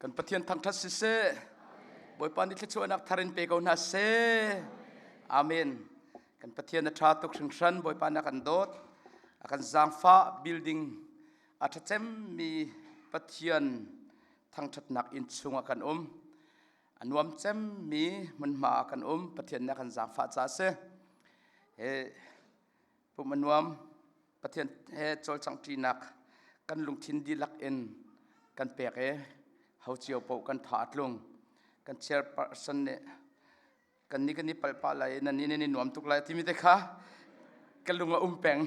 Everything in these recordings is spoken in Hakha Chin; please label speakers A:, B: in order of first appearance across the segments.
A: Kan Pathian thangṭhat siseh, Bawipa nih thluachuahnak thar in pe ko hna seh. Amen. Kan Pathian a ṭha tuk hringhran. Bawipa nih a kan dawt. A kan zaangfah building a ṭha cemmi Pathian thangṭhatnak inn chungah kan um. A nuam cemmi hmunhma ah kan um. Pathian nih a kan zaangfah ca a si. He Pum a nuam. Pathian he cawlcanghṭinak kan lungthin dihlak in kan pek i ho cio paoh kan tha a tlung. Kan chairperson nih kan nih kan i palh pah lai i nan nih nan i nuam tuk lai timi te kha ka lung a um peng.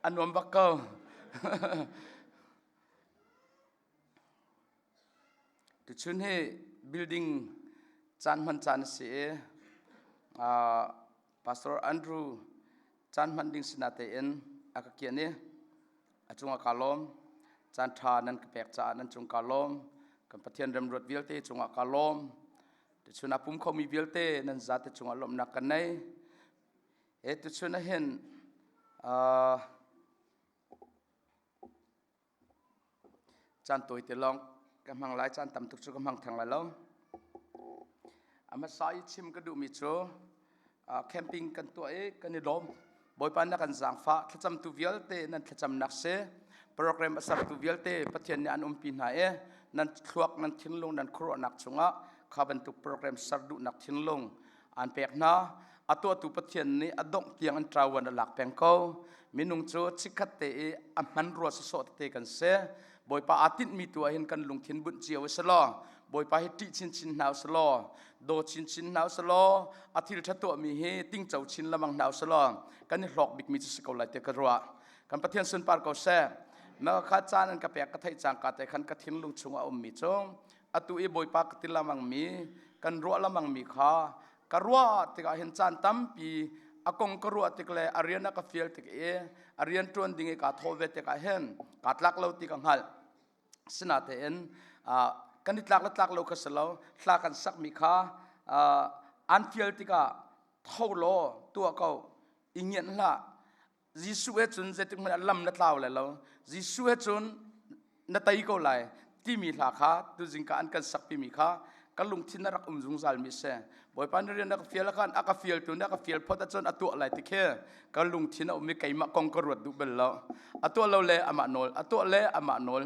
A: a nuam bak ko. Tuchun hi building caan hman caan a si i Pastor Andrew caan hman ding sinah tein a ka kianh i a cungah kaa lawm. Caan ṭha nan ka pek caah nan cung kaa lawm. Kan Pathian remruat vialte cungah kaa lawm. Tuchun a pum khomi vialte nan zate cungah lawmhnak kan nei. He tuchun ah hin Caan tawi te lawng ka hmang lai, caan tam tuk cu ka hmang theng lai lo. A hmasa i chim ka duhmi cu camping kan tuah i kan i lawm. Bawipa nih a kan zaangfah. Thlacamtu vialte nan thlacamnak si. Program a sertu vialte Pathian nih an umpi hna i nan thluak, nan thinlung, nan khuaruahnak chungah kha bantuk program ser duhnak thinlung an pek hna a tuahtu pathian nih a dongh tiang an ṭawan a lak peng ko minung cu chikhat te i a hman rua sawsawh tete kan si bawipa aa tinhmi tu ahhin kan lungthin bunh cio a si law bawipa hi ṭih chinchin hna u si law daw chinchin hna u si law a thil ṭha tuahmi hi tingco chin lamang hna u si law kan i hlawk bikmi cu si ko lai tiah ka ruah kan pathian sunpar ko seh na ka caan an ka pek ka theih cangka te khan ka thinlung chungah a ummi cu atu i bawipa ka til lamangmi kan ruah lamangmi kha ka ruah tikah hin caan tampi a kong ka ruah tik le a rian a ka fial tik i a rian ṭuan ding i kaa thawh ve tikah hin kaa tlak lo ti ka hngalh sinatein kan i tlak le tlak lo kha si lo hla kan sakmi kha an fial tikah tho law tuah ko i ngianh hlah Jesuh he cun zeitikhmanh ah lam na tlau lai lo. Jesuh he cun na tei ko lai timi hla kha tuzing ka an kan sakpimi kha ka lungthin a rak um zungzalmi a si. Bawipa nih rian a ka fial khan a ka fialtu nih a ka fial phot ahcun a tuah lai ti khi ka lungthin a um i keimah kong ka ruat duh bal lo. A tuah lo le amah nawl, a tuah le amah nawl,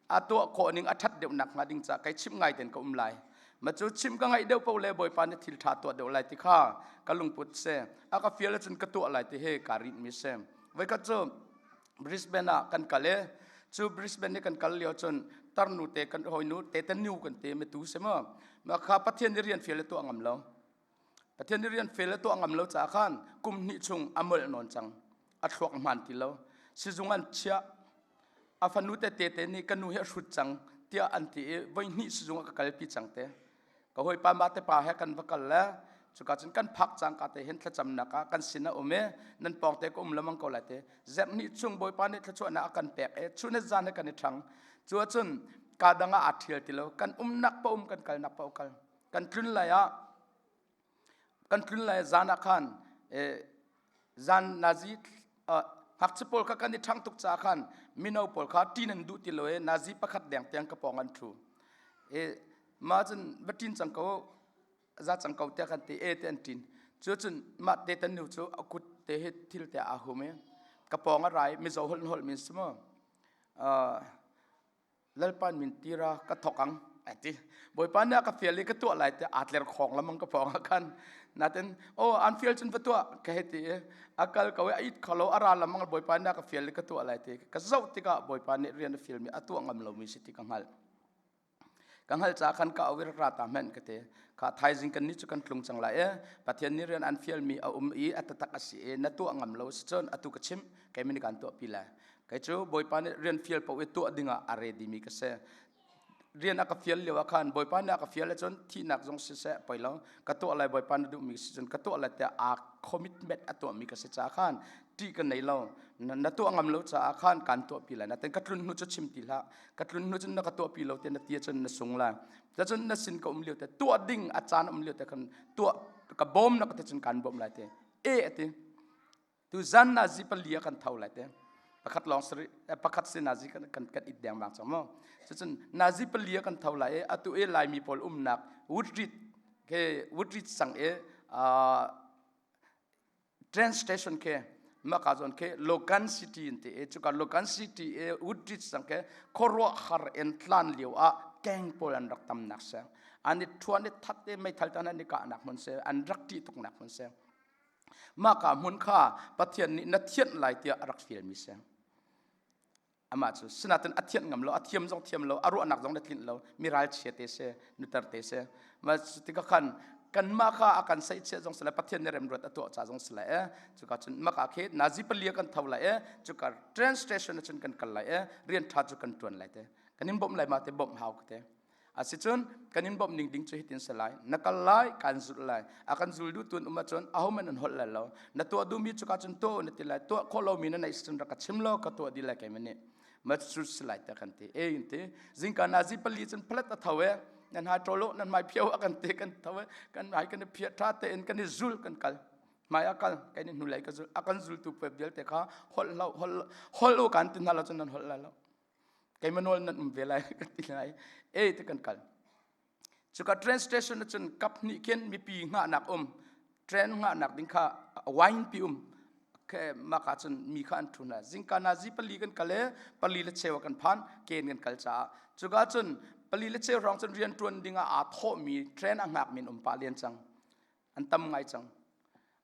A: a tuah khawh ning a ṭhat deuh nakhnga ding ca kai chimh ngai ten ka um lai. ma cu chim ka ngaih deuh paoh le bawipa nih thil ṭha tuah deuh lai ti kha ka lungput si a ka fial cun ka tuah lai ti he ka rinh mi si voikhat cu Brisbane ah kan kal i cu Brisbane i kan kal lio cun tarnu te kan hawinu te te nu kan te ma tu si mu ma kha Pathian i rian fial le tuah ngam lo Pathian i rian fel a tuah ngam lo caah khan kum hnih chung a molh nawn cang a thluak hman ti lo sizung an chiah a fanu te te te nih ka nu hi a hrut cang tiah an ti i voi hnih sizung ah ka kalpi cang te ka hawipa ma te pa he kan va kal le cuka cun kan phak cang ka te hen thlacamnak ah kan sin a um i nan pawng te ka um lamang ko lai te zerh nih chung bawipa nih thlachuahnak a kan pek i chunet zan he kan i ṭhang cu cun ka dang ah aa ṭhial ti lo kan umnak pa um kan kalnak pa kal kan tlun lai ah kan tlun lai zan ah khan zan nazi ngakchia pawl kha kan i ṭhang tuk caah khan mino pawl kha ṭin an duh ti lo i nazi pakhat deng tiang ka pawng an ṭhu e ma cun va ṭin cang ko za cang ko tiah kan ti e te an ṭin cu cun mah te tan nu cu a kut te hi thil te aa hum i ka pawng a ra i mizo holh holh min si mu Lalpan min tira ka thok ang a ti. Bawipa nih a ka fial i ka tuah lai tiah aa tler khawng lamang ka phawng ah khan natin o an fial cun va tuah ka he ti i a kal ko i a it kholo a ra lamang Bawipa nih a ka fial i ka tuah lai ti ka zoh tikah Bawipa nih rian a fialmi a tuah ngam lomi si ti ka hngalh. Ka hngalh ca khan ka awir ra ta men ka te kha thaizing kan ni cu kan tlung cang lai e pathian nih rian an fialmi a um i a tatak a si e na tuah ngam lo si cun atu ka chim kei min kan tuah pi lai kei cu bawipa nih rian fial po i tuah ding ah a ready mi ka se rian a ka fial lio ah khan bawipa nih a ka fial cun thihnak zong si seh poi lo ka tuah lai bawipa na duh mi si cun ka tuah lai tiah a commitment a tuah mi ka si caah khan ṭih ka nei lo na tuah ngam lo caah khan kan tuah pi lai na ten ka tlun hnu cu chim ti hlah ka tlun hnu cun na ka tuah pi lo te na tia cun na sung lai cun na sin ka um lio te tuah ding a caan um lio te khan tuah ka bawm na ka te cun kan bawm lai te e ati Tuzan na zi pali kan tho lai te pakhat long sari pakhat se na zi kan kan kan it deng bang chong mo cun na zi pali kan tho lai atu e lai mi pol umnak woodridge ke woodridge sang e train station ke maka zon ke logan city in te e chuka logan city e woodridge sang ke khorwa har en tlan liu a keng pol an rak tam nak sang ani thuan e that e mai thal tan ani ka anak mun se an rak ti tuk nak mun se mahka hmun kha Pathian nih na thianh lai tiah a rak fialmi seng amah cu sinatin a thianh ngam lo a thiam zong thiam lo a ruahnak zong na tlinh lo mi ralchia te se nuter te se ma tikah khan kanmah ka a kan saihchiah zong sile pathian ne remruat a tuah ca zong sile eh cuka cun maka khe nazi palia kan tho lai eh cuka train station cun kan kal lai eh rian tha cu kan tuan lai te kan in bawmh lai ma te bawmh hau te Asicun kan in bawmh ning ding cu hitin si lai. Na kal lai, kan zul lai. A kan zul duh tun um ahcun ahoman an holh lai lo. Na tuah duhmi cu ka cun tuah na ti lai. Tuah khawh lomi na neih cun rak ka chim law ka tuah dih lai kei mani. Machur si lai ta kan ti. E in ti. Zingka na zi pali cun phalat a tho e. Nan ha ṭolo nan mai phiau a kan ti kan tho e. Kan hai kan i phiat ṭha te in kan i zul kan kal. Mai a kal kan i hnulei ka zul. A kan zultu puep vialte kha holh lo holh holh u kan ti hna lo cun nan holh lai lo. keima nawl nan um ve lai ka ti lai e te kan kal cuka train station cun kap hnih khin mipi ngahnak um train ngahnak ding kha wine pi um ke maka cun mi kha an thuna zingka na zi pali kan kale pali le chewa kan phan ken kan kal cha cuka cun pali le chew rong cun rian tuan ding a thawmi train a ngak min um pa lian cang an tam ngai cang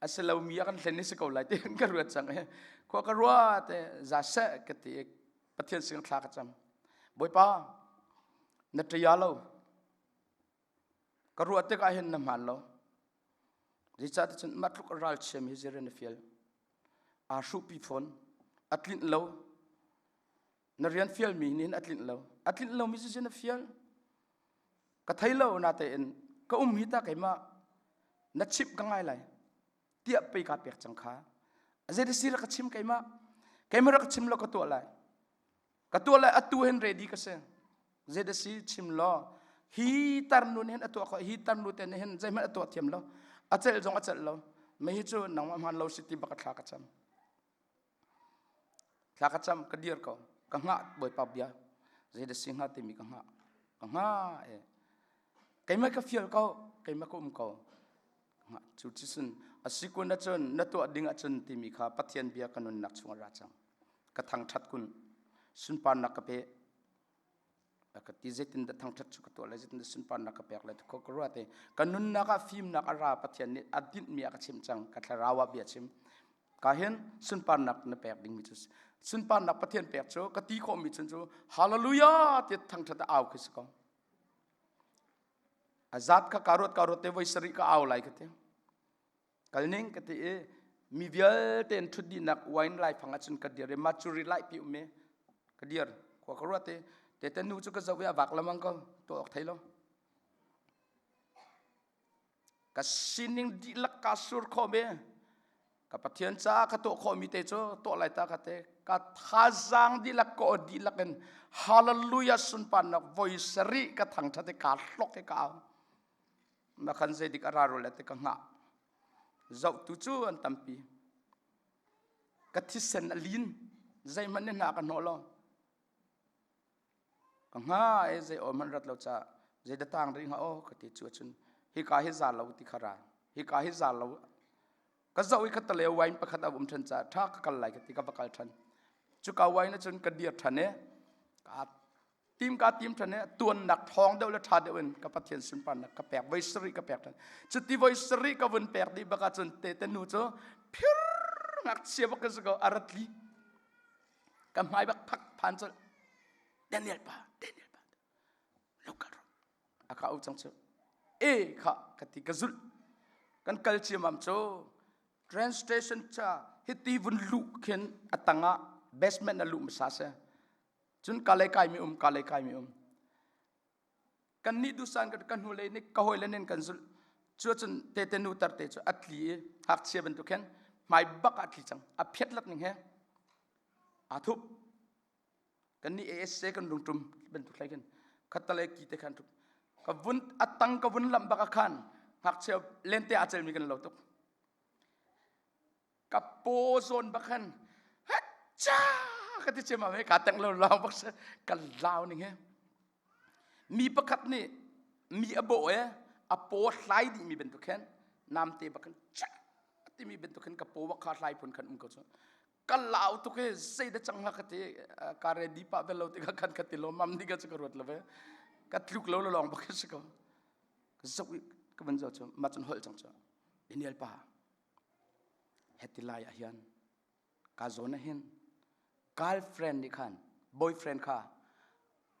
A: a si lomi a kan hlen ni si ko lai ti kan ka ruat cang i khua ka ruat i za seh ka ti i pathian sin thla ka cam bawipa na ṭaya lo ka ruat tik ah hin na hmaan lo zeicah ti cun mah tluk ral chiami hi zir na fial aa hruhpi fawn a tlinh lo na rian fialmi nin a tlinh lo a tlinh lomi cu na fial ka thei lo na tein ka um hi ta keimah na chip ka ngai lai tiah pei ka pek cang kha zeiti si ra ka chim keimah keimah ra ka chim lo ka tuah lai ka tuah lai atu hen ready ka se zeita si chim lo hi tarnu nih a tuah ko hi tarnu te nih hin zeihmanh a tuah thiam lo a celh zong a celh lo mei hi cu nangmah hman lo si ti baka thla ka cam Thla ka cam ka dir ko ka hngah Bawipa bia zei da si hnga timi ka hngah ka hngah e keimah ka fial ko keimah ka um ko cu ti sun asi kun ahcun na tuah ding ahcun timi kha Pathian bia ka nunnak chungah ra cang ka thangṭhat kun sunparnak ka pe ka ti zeitin dah thangthat chu ka tuah lai zeitin dah sunparnak ka pek lai ko ka ruat te ka nunnak ah fimnak a ra pathian nih a dinh mi a ka chim cang ka thlarau ah bia chim ka hin sunparnak na pek ding mi cu sunparnak pathian pek cu ka ti khawh mi cun cu hallelujah ti thangthat a au khi si ko azat ka ka ruat ka ruat te voi sari ka au lai ka te kal ning ka ti i mi vialte in thut dinak wine lai phang ahcun ka dir i maturi lai pi um i ka dir khua ka ruat i te te nu cu ka zoh i a vak lamang ko to ok thei lo ka sining dihlak ka sur khom i ka pathian ca ka to khomi te cu to lai ta ka te ka thazang dihlak ko dihlak in hallelujah sunpan nak voi sari ka thang that i ka hlok i ka au na khan zeidik a raro le te ka hngah zohtu cu an tampi ka thisen a lin zeihmanh nih hna ka hnawh lo ka nga e zei o man rat lo cha zei da tang ri nga o ka ti chu chun hi ka hi za lo ti khara hi ka hi za lo ka zo i ka tale wine pakhat a um than cha tha ka kal lai ka ti ka bakal than chu ka wine chun ka dir than e ka tim ka tim ṭhan he tuannak ṭhawng deuh le ṭha deuh in ka Pathian sunparnak ka pek voi sarih ka pek ṭhan cu ti voi sarih ka vun pek dih bak ahcun te te nu cu phir ngakchia bak ka si ko a rat li ka hmai bak phak phan cu Daniel pa Daniel pa lo kal ro a ka u cang cu e kha ka ti ka zulh kan kal ciamam cu train station cha hiti vun lu khin atangah basement a lu masa se cun ka le kai mi um ka le kai mi um kan ni dusan kan kan hnule ni ka hoi le nen kan zul chu cun te te nu tar te chu atli i hak chia bantuk khen mai bak atli chang a phet lak ning he a thup kan ni as kan lung tum bantuk lai khen khatalai ki te khan thup ka vun atang ka vun lam baka khan hak cheu lente acel mi kan lo tuk ka paw zawn bak khan hacha ka ti cem ame ka teng lo lao bak sa ka lao ning he mi pakhat nih mi a bawh e a paw hlai dih mi bantuk khan namte bak khan cha timi bantuk khan ka paw bak kha hlai phun khan um ko chu ka lau tuk he sei da chang ha ka te ka re di pa vel lo te ka khan ka ti lo mam ni ka chu ka ruat lo ve ka tluk lo lo long bak ka su ko ka zok ka ban zo chu ma chun hol chang chu inial pa heti lai ah hian ka zawn ah hin girlfriend nih khan boyfriend kha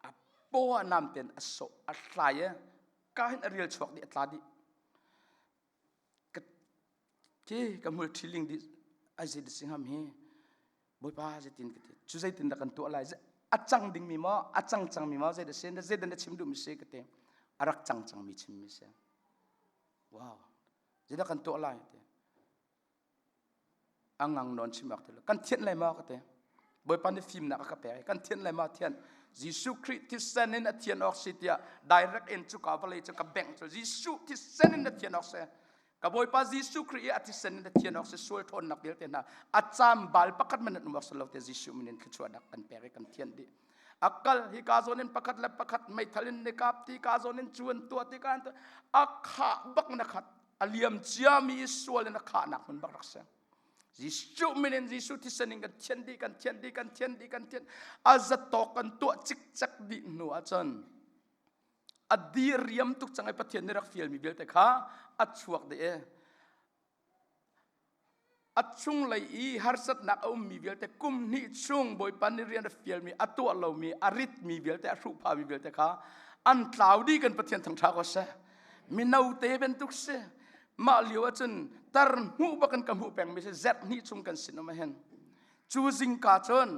A: a paw nam ten a so a hlai e ka hin a rial chuak di a tla di ka ti ka mul ṭhiling di ai zei di singham hi bawipa zeitin ka ti cu zeitin dah kan tuah lai a cang ding mi maw a cang cang mi maw zei da sen zeidan da chim duh mi se ka te a rak cang cang mi chim mi se wow Zina kan tuah lai te. Angang non chim ak te kan thian lai ma ka te. Bawipa ni fim nak ka pe kan thian lai ma thian. Jesu Christ thisen in a thian ok si tia direct in chu ka vale chu ka bank chu Jesu thisen in a thian ok se. Ka Bawipa Jesu Christ a thisen in a thian ok se sual thon nak bil te na a cham bal pakat minute umok se lo te Jesu minin thluchua nak kan pe kan thian di. akal hi ka zon in pakhat le pakhat meithal in nekap ti ka zon in chuan tua ti kan tu akha bak na khat aliam cia mi sual in akha nak mun bak rak se Jesu min in Jesu thisening kan thian di kan thian di kan thian di kan thian azat to kan tua chik chak di nu achon adi riam tuk changai pathian ni rak fiel mi vialte kha achuak de e a chunglei i harsatnak a ummi vialte kum hnih chung Bawipa nih rian a fialmi a tuah lomi a ritmi vialte a hruhphami vialte kha an tlau dih kan Pathian thangṭha ko seh mino te bantuk si mah lio ahcun tar hmuh bakin ka hmuh pengmi si zerh hnih chung kan sinum ahin cu zingka cun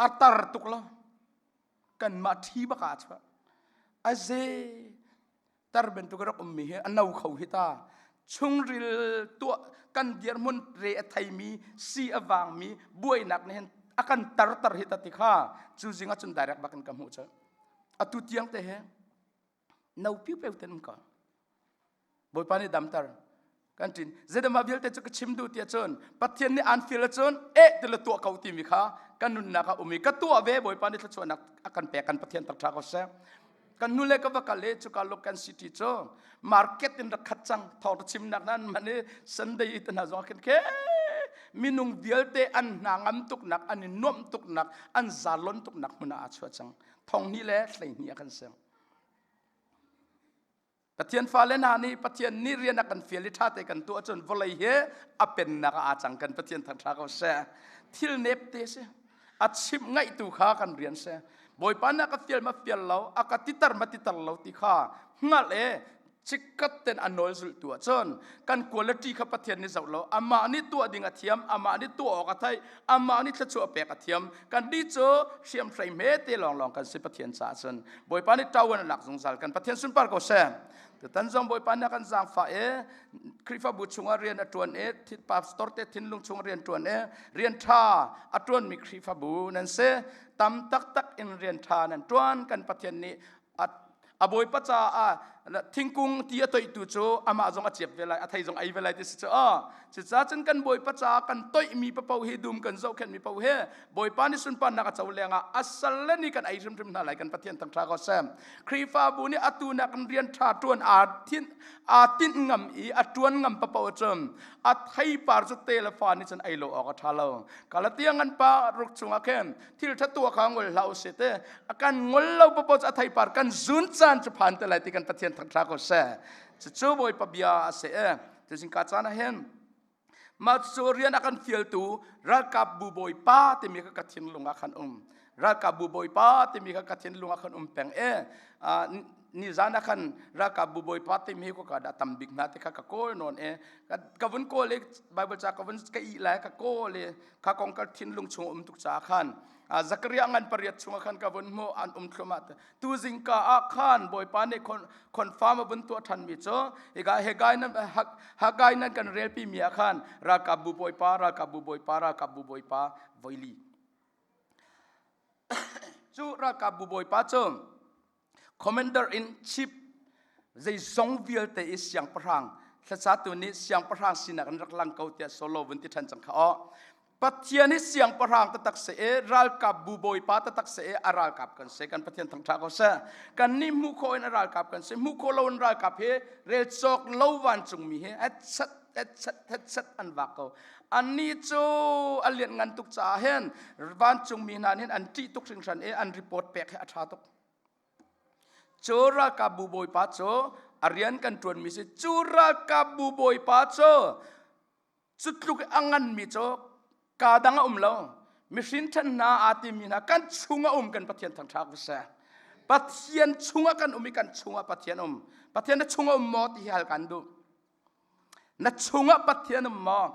A: a tar tuk lo kanmah ṭhi baka chuah a ze tar bantuk rak um mi hi a no kho hi ta chungril tuah kan dirmun re a thei mi si a vang mi buainak nih hin a kan tar tar hi ta ti kha cu zing a cun direct bakin ka hmuh cu atu tiang te he no piu piu ten ka bawipa ni damtar kan ṭin zeidamah vialte cu ka chim duh ti ahcun Pathian nih aan feel ahcun e ti le tuah ko timi kha kan nunnak ah um i ka tuah ve Bawipa nih thluachuahnak a kan pek kan Pathian tar ṭha ko seh kan nu le ka va kal i cuka local city cu market in rak khat cang thawng ra chimnak nan man i Sunday i hna zong khin khe minung vialte an hna ngam tuknak an i nuamh tuknak an zalon tuknak hmun ah a chuah cang thong ni le hlei ni a kan seng Pathian fale hna nih Pathian nih rian a kan fial i ṭha te kan tuah ahcun vawlei he a pennak ah aa cang kan Pathian thangṭha ko seh. Thil nep te si. A chimh ngaihtu kha kan rian seh. Bawipa na ka fial ma fial lo, a ka titar ma titar lo ti kha hngalh e cikkat ten a nawl zulh tu ahcun kan quality kha Pathian nih zoh lo amah nih tuah ding a thiam amah nih tuah awk a theih amah nih thluachuah pek a thiam kan nih cu hriam hrei hme te lawnglawng kan si pathian caah cun bawipa nih tawan a lak zungzal kan pathian sunpar ko seh tutan zong bawipa nih kan zaangfah e khrifabu chungah rian a ṭuan e thitpa store te thinlung chungah rian ṭuan e rian ṭha a ṭuanmi khrifabu nan se tam taktak in rian ṭha nan ṭuan kan pathian nih a bawipa caah thingkung ti a toihtu cu amah zong a ciep ve lai a thei zong ei ve lai ti si cu a cucaah cun kan bawipa caah kan toihmi papo hi dum kan zohkhenhmi papo hi bawipa nih sunparnak a co lengah a sal le nih kan ei hrimhrim hna lai kan pathian thangṭha ko sem khrihfabu nih atu nak in rian ṭha ṭuan aa thin aa tinh ngam i a ṭuan ngam papo cu a theipar cu te le fa nih cun ei lo awk a ṭha lo Galatia ngan pa ruk chungah khin thil ṭha tuah kha ngol hlah u sih te a kan ngol lo papo a thei par kan zun caan cu phan te lai ti kan pathian thang tha ko se cu bawipa bia a se e tu sing ka caan a hen ma cu rian a kan fialtu ralkapbu bawipa timi kha ka thin lungah khan um ralkapbu bawipa timi kha ka thin lungah khan um peng e ni zan khan ralkapbu bawipa timi ko ka da tam bik na te kha ka kawl non e ka ka vun kawl e bible cha ka vun ka i lai ka kawl e kha kong ka thinlung chung um tuk caah khan Zakaria ngan pariat chung khan ka vun hmu an um thlum ah tu zingka ah khan bawipa nih confirm a vun tuah than mi cu iga hegai nan hagai nan kan rel pi mi ah khan rakabu bawipa rakabu bawipa rakabu bawipa voili cu rakabu bawipa cu commander in chief zeizong vialte i siangpahrang hlasatu nih siangpahrang sinak an rak lang ko tiah solo vun ti ṭhan cang kha aw pathian hi siangpahrang tatak se e ralkap bu bawipa tatak se e a ralkap kan se kan pathian thangṭha ko seh kan nih hmu kho in a ralkap kan se hmu kho lo in ralkap hi rel cawk lo vancungmi hi hetset hetset hetset an vak ko ani cu a lian ngan tuk caah hin vancungmi hna nih an ṭih tuk hringhran e an report pek hi a ṭha tuk Cu ralkapbu bawipa cu a rian kan ṭuanmi si cu ralkapbu bawipa cu cu tluk i a nganmi cu kaa dang a um lo mihrin ṭhen hna aa timmi hna kan chung a um kan Pathian thangṭhak va si Pathian chungah kan um i kan chungah Pathian um Pathian na chung a um maw ti hi hal kan duh na chungah pathian um maw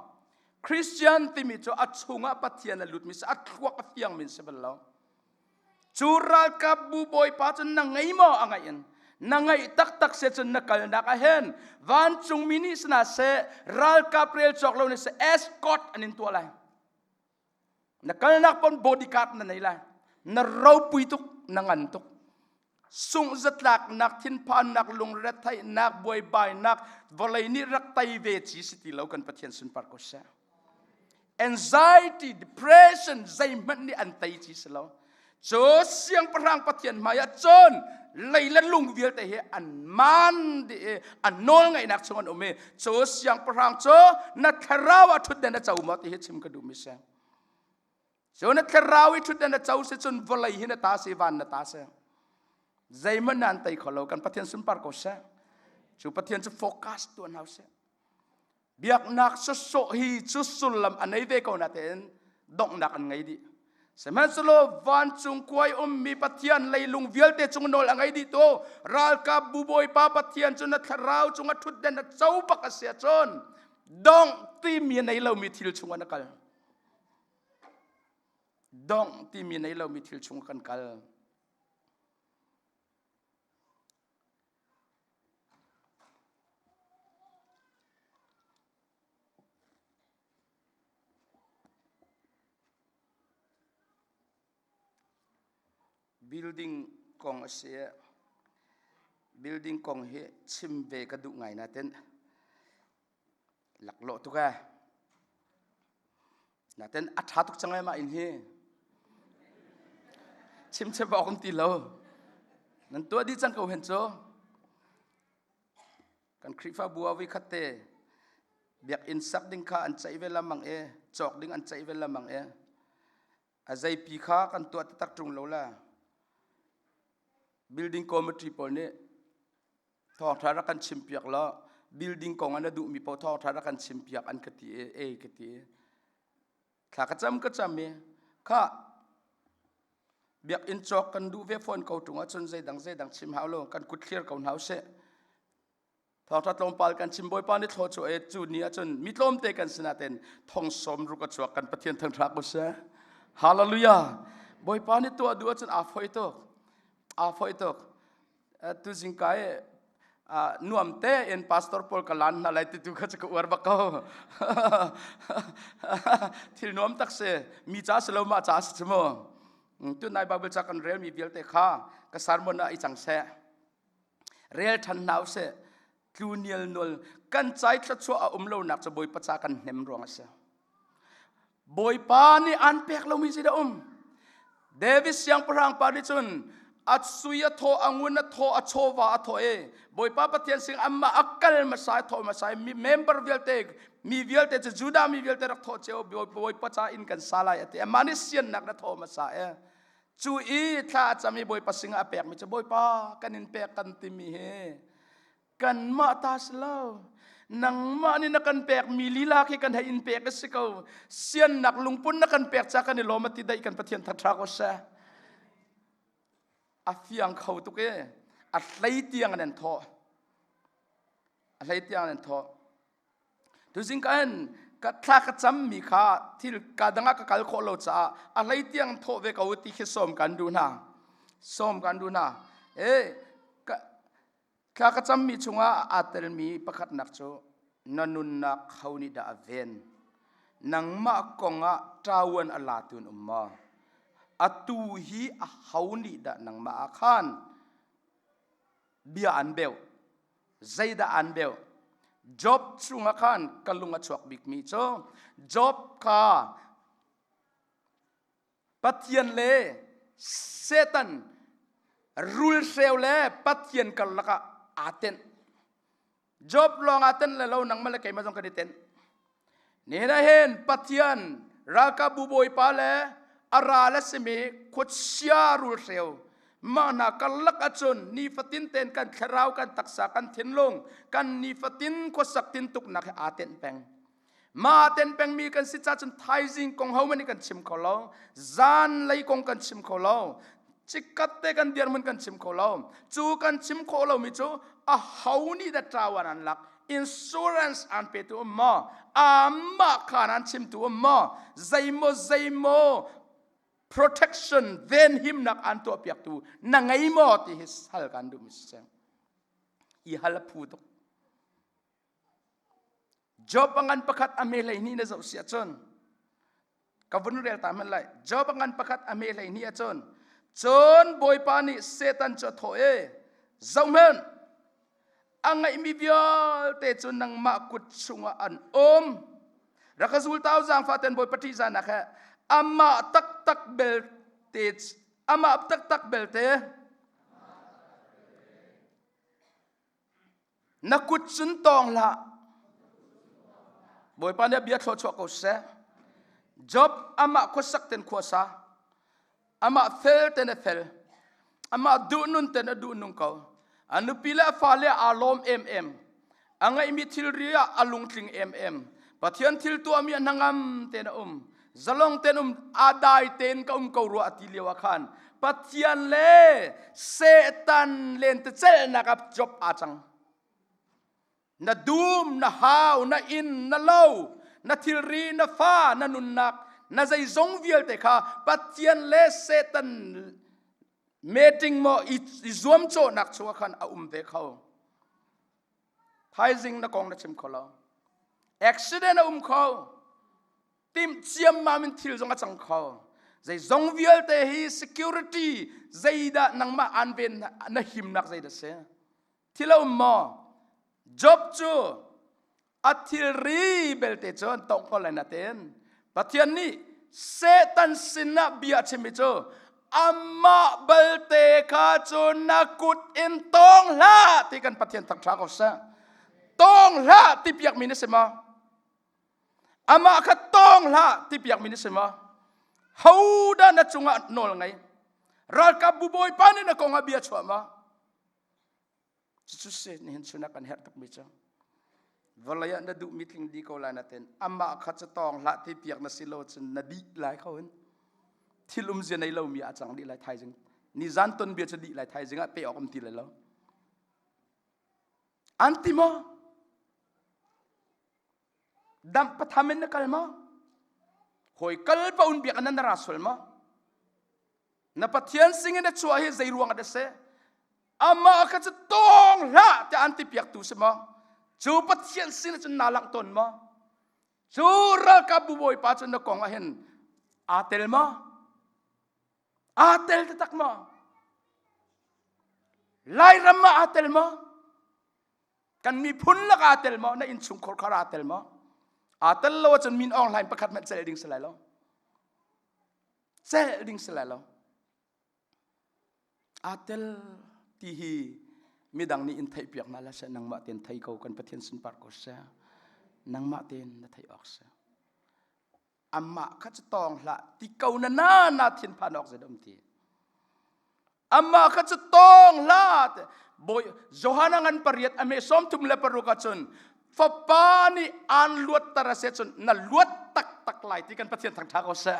A: christian timi cu a chungah pathian a lutmi si a thluak a fiangmi si bal lo cu ralkapbu bawipa cu na ngei maw a ngaih in na ngaih taktak se cun na kalnak a hen vancungmi nih sina se ralkap rel cawk lo nih se escort an in tuah lai na kalnak pon bodyguard na nei lai na ropui tuk na ngan tuk sungh zatlaknak thinphannak lungretheihnak buaibainak vawlei nih rak tei ve ci si ti lo kan pathian sunpar ko seh anxiety depression zeihmanh nih an tei ci si lo Cu siangpahrang pathian hmaiah cun lei le lung vialte hi an man di i an nawl ngaihnak chung an um i cu siangpahrang cu na thlarau ah ṭhutden a co maw ti hi chim ka duhmi si. Cu na thlarau i ṭhutden a co si cun vawlei hi na ta si van na ta si. Zeihmanh nan tei kho lo kan Pathian sunpar ko seh. Cu Pathian cu focus tuan hau seh. biaknak sawsawh hi cu sullam a nei ve ko natein donghnak an ngei dih sihmanhsehlaw vancung kuai ummi pathian leilung vialte cung nawl a ngei dih tu ralkapbu bawipa pathian cu na thlarau cung a ṭhutden a co bak a si ahcun dongh timi nei lomi thil chungah na kal dongh timi nei lomi thil chung kan kal Building kong a si. Building kong hi chim ve ka duh ngai na ten. laklawh tuk e naten a ṭha tuk cang e mah inn hi chimchep awk an ti lo nan tuah dih cang ko hen cu kan khrihfabu ah vui khat te biakinn sak ding kha an ceih ve lamang e cawk ding an ceih ve lamang e a zeipi kha kan tuah taktak ṭung lo la building committee pawl nih thawngṭha rak kan chim piak law building kong ah na duhmi paoh thawngṭha rak kan chim piak an ka ti i ei ka ti i thla ka cam ka cam i kha biakinn cawk kan duh ve fawn ko ṭung ahcun zeidang zeidang chim hau lo kan kut thlir ko hna u sih Thawngtha tlawmpal kan chim Bawipa ni thlo cu e cu ni ahcun mi tlawmte kan sinah ten thong som ruk a chuak kan Pathian thang thak u se. Hallelujah. Bawipa ni tuah du ahcun aa foi tuk. Aa foi tuk. Tu zingka e nuam te en pastor paul ka lan na lai ti tu kha chu ka uar ba ko thil nuam tak se mi cha se lo ma cha se chumo tu nai bible cha kan rel mi vialte kha ka sermon na i chang se rel ṭhan hna u sih tlu nial nual kan cai thluachuah a um lonak cu bawipa ca kan hnem ruang a si bawipa nih aan pek lomi si da um david siangpahrang pa nih cun a sui a thaw a ngun a thaw a chawva a thaw e bawipa pathian sing amma a kal masa thaw masa mi member vialte mi vialte cu judah mi vialte rak thaw ceo bawipa ca in kan sa lai ati amah nih siannak na thaw masa e cu i thla a cam i bawipa sinah a pekmi cu bawipa kan in pek kan timi hi kanmah ta si lo nangmah nih na kan pekmi lila khi kan hei in pek a si ko siannak lungpun na kan pek ca kan i lawm a ti daih kan pathian thatha ko seh a fiang kho tuk i a hlei tiang an en thawh a hlei tiang an en thawh Tuzing kan ka thla ka cam mi kha thil ka dangah ka kal khawh lo caah a hlei tiang thawh ve ko ti khi sawm kan duh hna. Sawm kan duh hna. Eh ka thla ka cam mi chungah aa tel mi pakhatnak cu na nunnak ho nih dah a ven? Nangmah kongah ṭawan a latu in um maw? Atu hi a ho nih dah nangmah ah khan bia an beu zeidah an beu job chungah khan ka lung a chuak bikmi cu job kha pathian le satan rul hreu le pathian karlak ah aa tenh job longah ten le lo nangmah le keimah zong kan i ten nena hen pathian ralkabu bawipa le ara le simi khuachia rul hreu mah hna karlak acun nifatin ten kan thlarau kan taksa kan thinlung kan nifatin khuasak tin tuknak he aa ten peng Mah ten pengmi kan si cahcun thaizing kong homan nih kan chim kho lo. Zan lei kong kan chim kho lo. Cikkat te kan dirmun kan chim kho lo. Cu kan chim khawh lomi cu a ho nih dah tawan an lak insurance an pe tu um maw amah khan an chim tu um maw zeimaw zeimaw protection then himnak an tuah piak tu na ngei maw ti hi sal kan duh mi si i hal phu tuk Job a ngan pakhat a me hleihnih na zoh si ahcun ka vun rel ta hmanh lai Job a ngan pakhat a me hleihnih ahcun cun Bawipa nih Satan cu a thawh e zoh hmanh a ngeihmi vialte cu nangmah kut chungah an um rak ka zul tau zaangfaten Bawipa ṭih zanak he amah taktak belte amah taktak belte na kut cun tawng hlah bawipa nih bia thlawh chuah ko seh job amah khuasak ten khuasa amah fel ten a fel amah duh nun ten a duh nung ko a nupi le fale aa lawm em em a ngeihmi thilri ah a lungtling em em pathian thil tuahmi a hnangam ten a um zalong ten um a dai tein ka um ko rua ati lio ah khan pathian le setan len te celnak ap chop a cang na dum na hau na in na lo na thilri na fa na nunnak na zeizong vialte kha pathian le setan meeting mo i zuam cawnak chungah khan a um ve kho thaizing na kong na chim kho lo accident a um kho timh ciammam in thil zong a cang kho zeizong vialte hi security zeidah nangmah an ven na himnak zei dah si thil a um maw job cu a thilri belte cun tong ko lai na ten Pathian nih Satan sinah bia a chimmi cu amah balte kha cu na kut in tawng hlah ti kan Pathian thangṭha ko seh. Tawng hlah ti piakmi na si maw? Amah kha tawng hlah ti piakmi na si maw? Hodah na cungah nawl ngei? Ralkapbu bawipa nih na kongah bia chuah maw? Cucu se nihin chunak kan herh tukmi cu. Vawlei ah na duhmi tling di ko lai na ten. Amah kha cu tawng hlah te piak na si lo cun na dih lai kho hin. Thil um zia nei lomi a cang dih lai thaizing. Ni zan ton bia cu dih lai thaizing ah pe awk um ti lai lo. An ti maw? Damh patham in na kal maw? Hawi kal paun biak nan ra sual maw? Na Pathian singin na chuah hi zei ruang ah dah seh? Amah kha cu tawng hlah tiah an ti piaktu si maw? Cu Pathian sin cun na langh tawn maw? Cu ralkapbu bawipa cu na kong ah hin aa tel maw? Aa tel taktak maw? Lairam ah aa tel maw? kan miphun lak aa tel maw na innchungkhar khar aa tel maw aa tel lo ahcun min aung hlain pakhat hmanh celh ding si lai lo celh ding si lai lo aa tel ti hi midang nih in theih piak na la seh nangmah ten thei ko kan pathian sunpar ko seh nangmah ten na theih awk seh Amah kha cu tawng hlah ti ko na na na thin phan awk zet um ti. Amah kha cu tawng hlah te Bawi Johan ngan pariat ame som thum le paruk ah cun fapa nih an luat tar ase cun na luat taktak lai ti kan Pathian thang tha ko seh.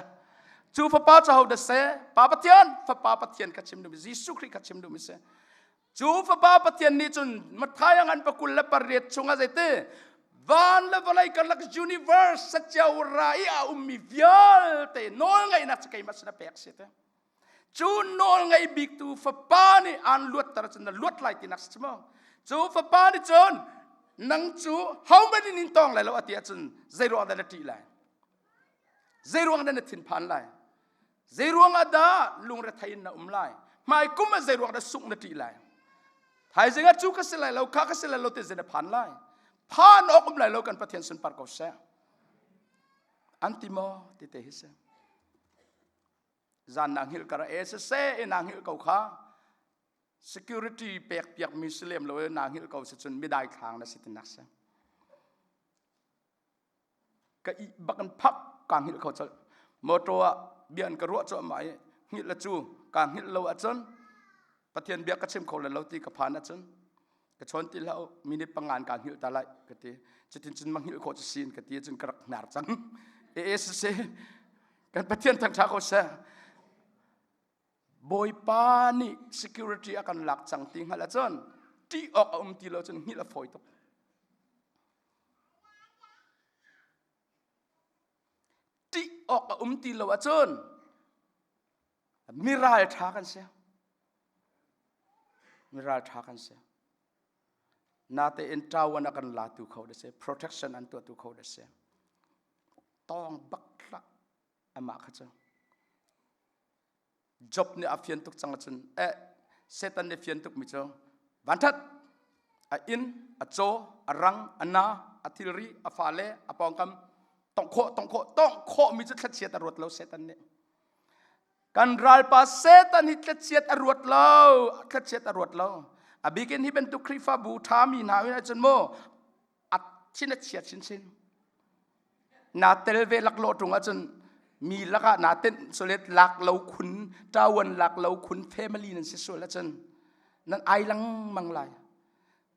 A: Cu fapa ca ho da se, Pa Pathian, fapa Pathian ka chim dum, Jesuh Khrih ka chim dum ise. Cu fapa Pathian nih cun Matthai ngan pakul le pariat chungah zeiti van le vawlei karlak universe sacia ra i a ummi vialte nawl ngaihnak cu keimah sinah pek si te cu nawl ngaih biktu fapa nih aan luatter cun na luat lai tinak si maw cu fapa nih cun nang cu homan in in tong lai lo a ti ahcun zei ruang dah na ṭih lai zei ruang dah na thinphan lai Zeiruang ah dah lungrethei in na um lai? Hmai kum ah zeiruang dah sungh na ṭih lai? Thaizing ah cu ka si lai lo, kha ka si lai lo ti zan phan lai. Phan awk um lai lo kan Pathian sunpar ko seh. An ti maw ti te hi si. Zan na ngil kara e se se na ngil ko kha security pek piak mi si lem lo na ngil ko si cun midai thlang na si tinak se. ka ih bak in phak kaa hngilh kho colh motor ah bia an ka ruah cuahmah i hngilh le cu kaa hngilh lo ahcun pathian bia ka chim kho lai lo ti ka phan ahcun ka chawn ti hlah u minute pangan kaa hngilh ta lai ka ti cutin cun ma hngilh khawh cu sin ka ti ahcun ka rak hnar cang ee siseh kan pathian thangṭha ko seh Bawipa nih security a kan lak cang ti hngalh ahcun ṭih awk a um ti lo cun hngilh a fawi tuk. Ṭih awk a um ti lo ahcun mi ralṭha kan si. Mi ralṭha kan si. Natein ṭawan a kan latu kho da si. Protection an tuahtu kho da si. Tawng bak amah kha cu job nih a fian tuk cang ahcun e setan nih fian tukmi cu vanṭhat a inn a caw a rang a na a thilri a fale a pawngkam tongh khawh tongh khawh tongh khawhmi cu thlachiat a ruat lo setan nih kan ralpa setan hi thlachiat a ruat lo thlachiat a ruat lo a bikin hi bantuk khrihfabu ṭhami hna in ahcun maw a chin a chiat chinchin naa tel ve laklawh ṭung ahcun mi lakah naa tenh solet lak lo khun ṭawan lak lo khun family nan si sual ahcun nan ai lengmang lai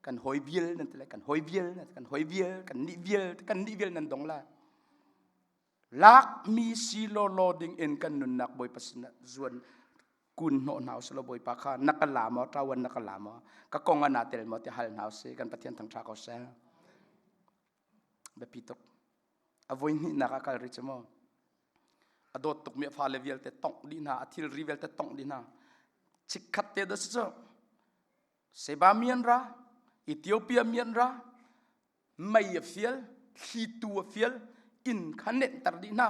A: kan hoi vial nan ti lai kan hoi vial kan hoi vial kan nih vial kan nih vial nan dong lai lakmi si lo lo ding in kan nunnak bawipa sinah zuan kun hnawh hna usih lo bawipa kha na ka la maw ṭawan na ka la maw ka kong ah naa tel maw ti hal hna usih kan pathian thang ṭha ko seh biapi tuk a voi hnihnak a kal rih cu maw a dawt tukmi a fale vialte tongh dih hna a thilri vialte tongh dih hna chikkhat te da si cu seba mian ra ethiopia mian ra mei a fial thlitu a fial inn kha nenhter dih hna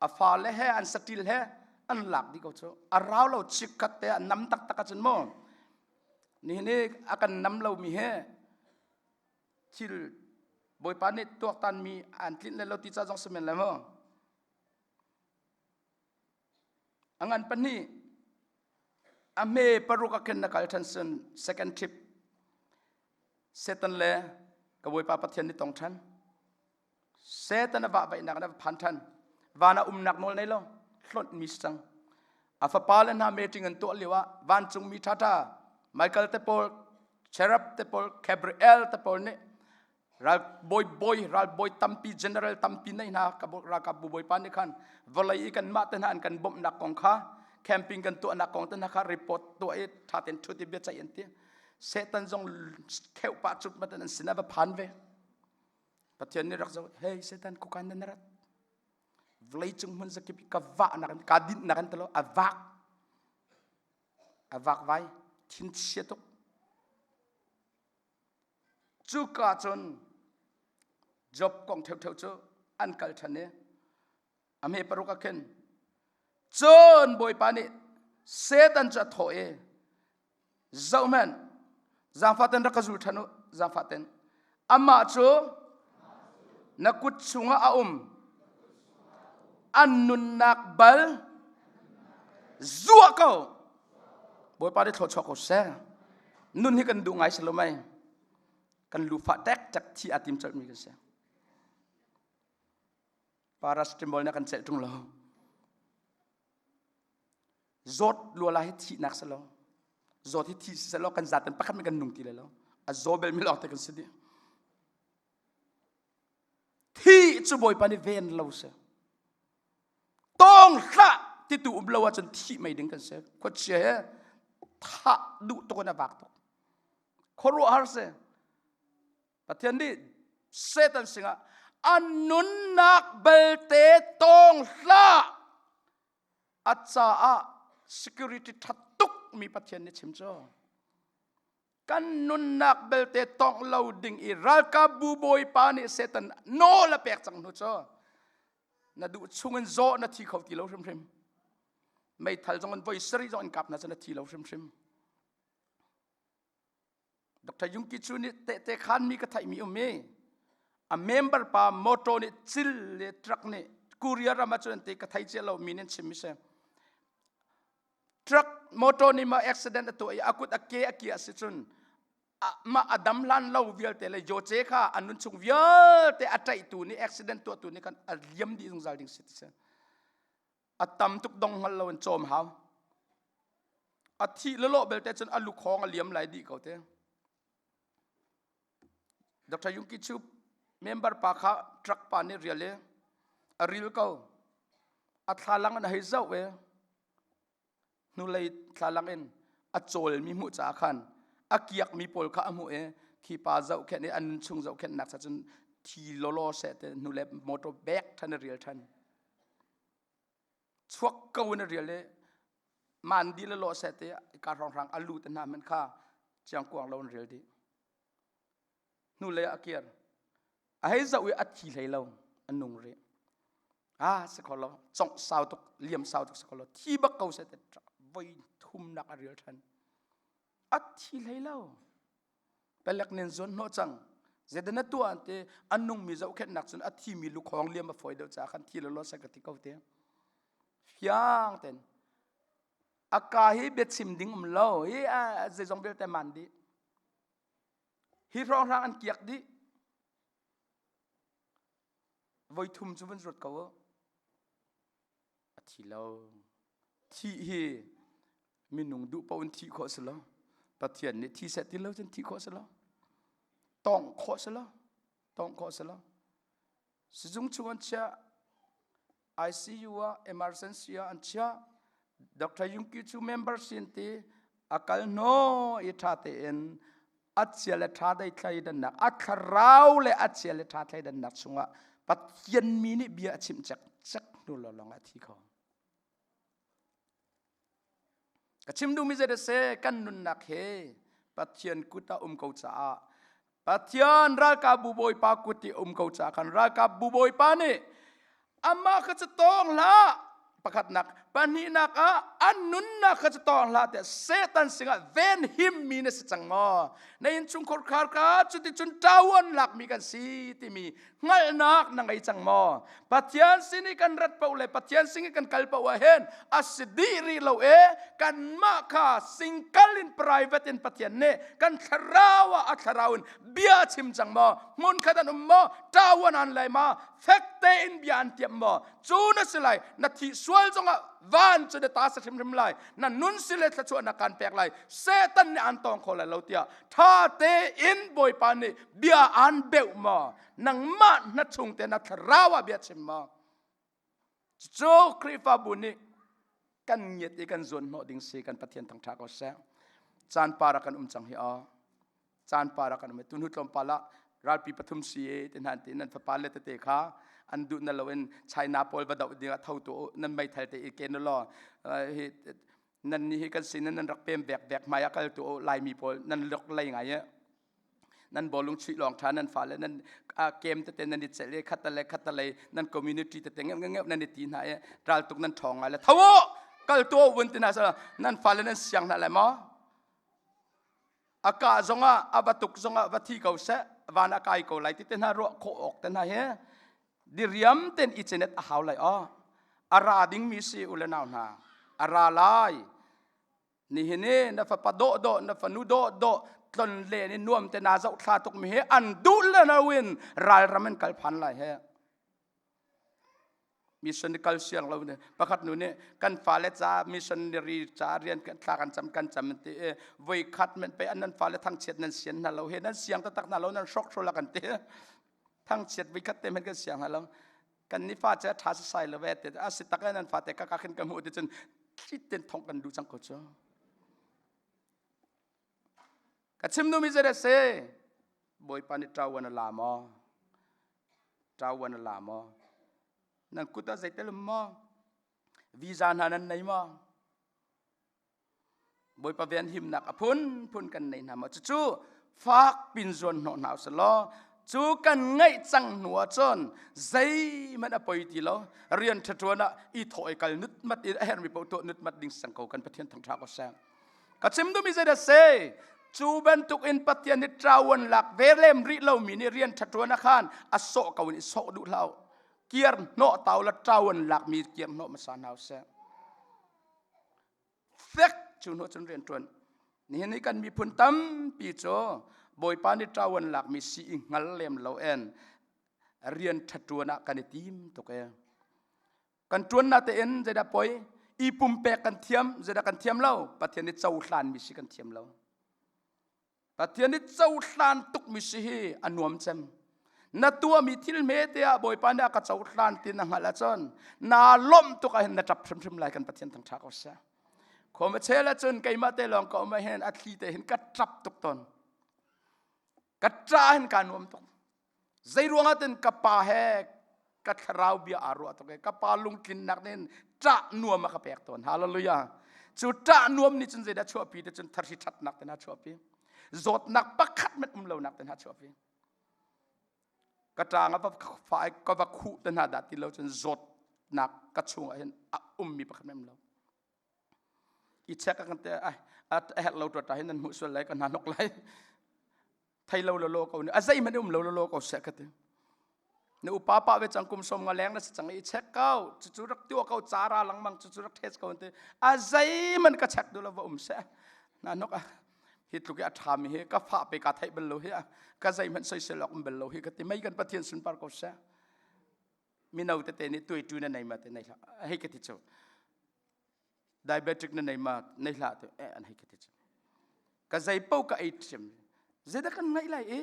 A: a fale he an satil he an lak di ko cu a rau lo chikkhat te a nam taktak a cun maw nihin i a kan nam lomi he thil bawipa nih tuaktanmi an tlinh le lo ti ca zong si men le maw a ngan pahnih a hme paruk a khin na kal ṭhan sun second trip Satan le ka bawipa Pathian nih tong ṭhan Satan a vahvaihnak in a va phan ṭhan. Van ah umnak nawl nei lo, hlonh mis cang. A fapa le hna meṭing an tuah lioah vancungmi ṭhaṭha Michael te pawl, Cherub te pawl, Gabriel te pawl nih ralbawi bawi, ralbawi tampi, general tampi nei hna ralkapbu bawipa nih khan vawlei i kanmah te hna an kan bawmhnak kong kha camping kan tuahnak kong te hna kha report tuah i ṭha tein ṭhut i bia ceih an ti. Satan zong kheuh pah cut an sin a va phan ve. Pathian nih rak zoh, hei Satan kukan nan rat. Vlei cung hmun zakip ka vahnak ka dinhnak an talo a vak a vak vai thin chia tuk. Cuka cun Job kong theu theu cu an kal ṭhan i a hme paruk ah khin cun bawipa nih Satan cu a thawh i zohman zaangfaten rak ka zul ṭhan u zaangfaten amah cu na kut chungah a um an nunnak bal zuah ko bawipa nih thlawchuak ko seh nun hi kan duh ngai si lo mai kan lufa tek tek thi a tim colhmi kan si paracetamol nih a kan celh ṭung lo zawt luala hi thihnak si lo zawt hi thi si lo kan zat in pakhat min kan nung ti le lo a zaw bel mi lawngte kan si di thi cu bawipa nih ven lo si tawng hlah ti tu um lo ahcun thi mai ding kan si khuachia he thah duh tuk in a vak tuk khuaruahhar si Pathian nih Satan singah a nunnak belte tawng hlah a caah security ṭha tukmi Pathian nih chim cu kan nunnak belte tawng lo ding i ralkapbu bawipa nih Satan nawl a pek cang hnu cu na duh chungin zaw na thi kho ti lo hrimhrim meithal zong in voi sarih zong in kap hna cu na thi lo hrimhrim Dr. Yungki cu nih tehte khanmi ka theihmi um i a member pa motor nih cil le truck nih courier ram ahcun an ti ka thei cia lo mi nih chim si truck motor nih mah accident a tuah i a kut a ke a ki a si cun mah a dam lan lo vialte le yoce kha an nun chung vialte a ṭaihtu nih accident tuahtu nih khan a liam dih zungzal ding si ti si a tam tuk dong ngal lo in cawm hau a thih lolo belte cun a lukhong a liam lai dih ko te Dr. Yungki Chu member pa kha truck pa nih rial e a ril ko a thlalang an hei zoh e hnulei thlalak in a cawlmi hmuh caah khan a kiakmi pawl kha a hmuh i khi pa zoh khenh i an nun chung zoh khenh nak sa cun thi lolo seh ti hnule motor bek than a rial than chuak ko in a rial i man di le lo seh ti ka rong rang a lu te hna man kha chiang kuang lo an rial dih hnulei ah a kir a hei zoh i a thi hlei lo a nung rih ah si kho lo congh sau tuk liam sau tuk si kho lo thi bak ko seh ti voi thumnak a ril ṭhan a thi hlei lo pelek nen zuan hnawh cang zedan na tuah ante an nungmi zohkhenhnak cun a thimi lukhawng liam a fawi deuh ca khan thi lo lo sai ka ti ko te fiang ten a ka hi bia chim ding um lo i zeizong vialte man dih Hi hrawhra an kiak dih. Voi thum cu van ruat ko uh. A thi lo. Thi hi minung duh paoh in thi khawh si lo. Pathian nih thi set ti lo cun thi khawh si lo. Tawng khawh si lo. Tawng khawh si lo. Sizung chungan chia ICU ah emergency ah an chiah. Dr. Yungki cu member sin ti a kal no i tha tein achia le tha dei thlai dannak a thlarau le achia le tha thlai dannak chungah Pathian mi nih bia a chim cek cek hnu lo long a thi kho. Ka chim duhmi zei seh kan nunnak he Pathian kut ah um ko caah Pathian ralkapbu Bawipa kut i um ko caah khan ralkapbu Bawipa nih amah kha cu tawng hlah pakhatnak pahnihnak ah an nunnak kha cu tawng hlah tiah Satan sinah venhimmi na si cang maw na innchungkhar kha cuticun ṭaoan lakmi kan si timi hngalhnak na ngei cang maw pathian sin i kan rat poh le pathian sin i kan kal poh ah hen a si dih rih lo e kanmah kha singkal in private in pathian nih kan thlarau ah a thlarau in bia chim cang maw hmun khat an um maw tawan an lai ma fek te in bia an tiam maw cu na si lai na thi sual zong ah van cu na ta sa hrimhrim lai na nun si le thlachuah na kan pek lai setan nih an tong kho lai lo tiah tha tein bawipa nih bia aan beuh ma nangmah na chung te na thlarawa bia chim ma cu Khrihfabu nih kan ngiat i kan zuan hnawh ding si kan Pathian thangtha ko seh caan para kan um cang hi a caan para kan um tu hnu tlawmpal ah ralpi pathum si e ti nan ti nan fapa le tete kha an duh na lo in China pawl va doh ding ah tho tu nan mei thal te i ken lo hi nan nih hi kan sin nan rak pem bek bek mai a kal tu laimi pawl nan lok lei ngai e nan bolung chuih long tha nan fa le nan kem te te nan i chele khata le khata le nan community te te ngep ngep nan i ti na e ral tuk nan thong ngai le thawo kal to wun tina sa nan fa le nan siang na le ma a ka zongah a va tuk zongah va thi ko seh van a kai ko lai ti te hna ruah khawh awk te hna hi diriam ten i chenet a hau lai o a ra ding mi si u le nau hna a ra lai ni hi ni na fa pa do do na fa nu do do tlon le ni nuam te na zoh thla tuk mi hi an du le no in ral ram in kal phan lai he mission i kal siang lo ne pakhat nu nih kan fale ca missionary ca rian kan thla kan cam kan cam an ti i voi khat men pe an nan fale thangchiat nan sian hna lo he nan siang tatak hna lo nan hrok hrol kan ti thangchiat voi khat te men kan siang hna lo kan ni fa cha tha sai lo ve te a si tak nan fate ka ka khin ka mu ti cun thlit ten thong kan du chang ko cho ka chim nu mi zei dah se bawipa nih ṭawan a la maw ṭawan a la maw nan kut ah zei tel um maw visa hna nan nei maw bawipa venhimnak a phunphun kan nei hna maw cucu fak pin zuan hnawh hna usih law cu kan ngaih cang hnu ah cun zeihmanh a poi ti lo rian ṭhaṭuan ah i thawh i kal nut mat in a herh mi paoh tuah nut mat ding sang ko kan pathian thang ṭha ko seh ka chim duhmi zei dah se cu bantuk in pathian hi trawan lak ve lem rih lo mi nih rian ṭhaṭuan a khan a sawh ko in i sawh duh hlau kiar hnawh tau la trawan lak mi kiar hnawh hmasa hna seh fek cu hnu cun rian ṭuan nihin i kan miphun tampi cu bawipa nih trawan lak mi si i hngal lem lo en rian ṭhaṭuan ah kan i tim tuk e kan tuanna te in zeidah poi i pumpek kan thiam zeidah kan thiam lo pathian i cohlan mi si kan thiam lo pathian i cohlan tuk mi si hi a nuam cem na tuami thil me te ah bawipa nih a ka cohlan tin na hngalh ahcun na lawmh tuk ahhin na tap hrimhrim lai kan pathian thang tha ko sia khom a chel ahcun keimah te lawng ka um ahhin a thli te hin ka tap tuk ton ka tra hin ka nuam tuk Zeiruangah tin ka pa he ka thlarau bia aa ruah tuk ka pa lungtlinnak nih ṭah nuam a ka pek tawn hallelujah cu ṭah nuam nih cun zeidah chuahpi te cun tharsi ṭhatnak te na chuahpi zawtnak pakhat met um lonak te na chuahpi ka ṭang a fa ka va khuh te hna dah ti lo cun zawtnak ka chung ah hin a ummi pakhat met um lo i check a kan te a herh lo tua ta hin an hmuh sual lai ka hna nok lai thei lo lo ko a zei man um lo lo ko se ka ti na upa pa ve chang kum som nga leng na chang i check kau chu chu rak tiu ko chara lang mang chu chu rak thes ko te a zei man ka check du lo va um se na nok a hi tlu ke atha mi he ka fa pe ka thei bel lo he ka zei man soi se lok bel lo hi ka ti mai kan pathian sun par ko se mino tete nih tuaitu na nei ma te nei hlah hei ka ti chu diabetic na nei ma nei hlah te eh an hei ka ti chu ka zei po ka ei sim zeida kan ngai lai e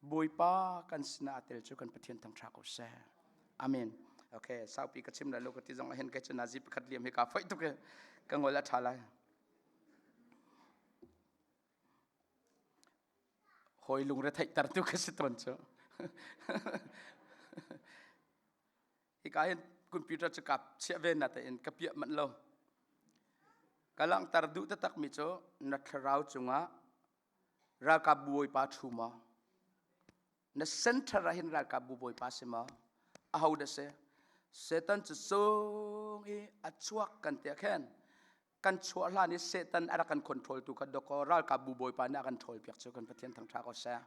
A: bawipa kan sina atel chu kan pathian thang tha ko se amen okay saupi ka chim la lo ka ti zong ahen kai chu nazi pakhat liam hi ka foi tuk ka ngol a tha lai hawi lungretheihter tu ka si tawn cu hika hin computer cu kap chiah ve na tein ka piah manh lo ka langhter duh takmi cu na thlarau cungah ralkap bawipa thu maw na center ah hin ralkap bawipa si maw aho da si setan cu sung i a chuak kan tiah khen kan chuah hlan i Satan a rak kan control tu kha dok ko ralkapbu bawipa nih a kan ṭhawl piak cu kan Pathian thangṭha ko seh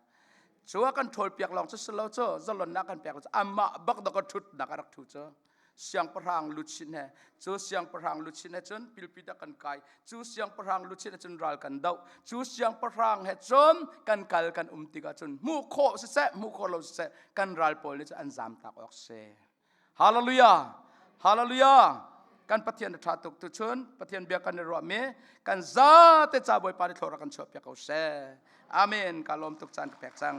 A: cu a kan ṭhawl piak lawng cu si lo cu zalonnak kan pek cu amah bak dok a ṭhutnak a rak ṭhu cu siangpahrang luchin he cu siangpahrang luchin he cun pilpit a kan kai cu siangpahrang luchin he cun ral kan doh cu siangpahrang he cun kan kal kan um tikah cun hmuh khawh siseh hmuh khawh lo siseh kan ral pawl nih cun an zam tak awk si Hallelujah! Hallelujah! kan pathian ṭha tuk tu chun pathian bia kan i ruahmi kan zate ca bawipa ni thlora kan chuahpiak ko seh amen ka lawm tuk caan ka pek cang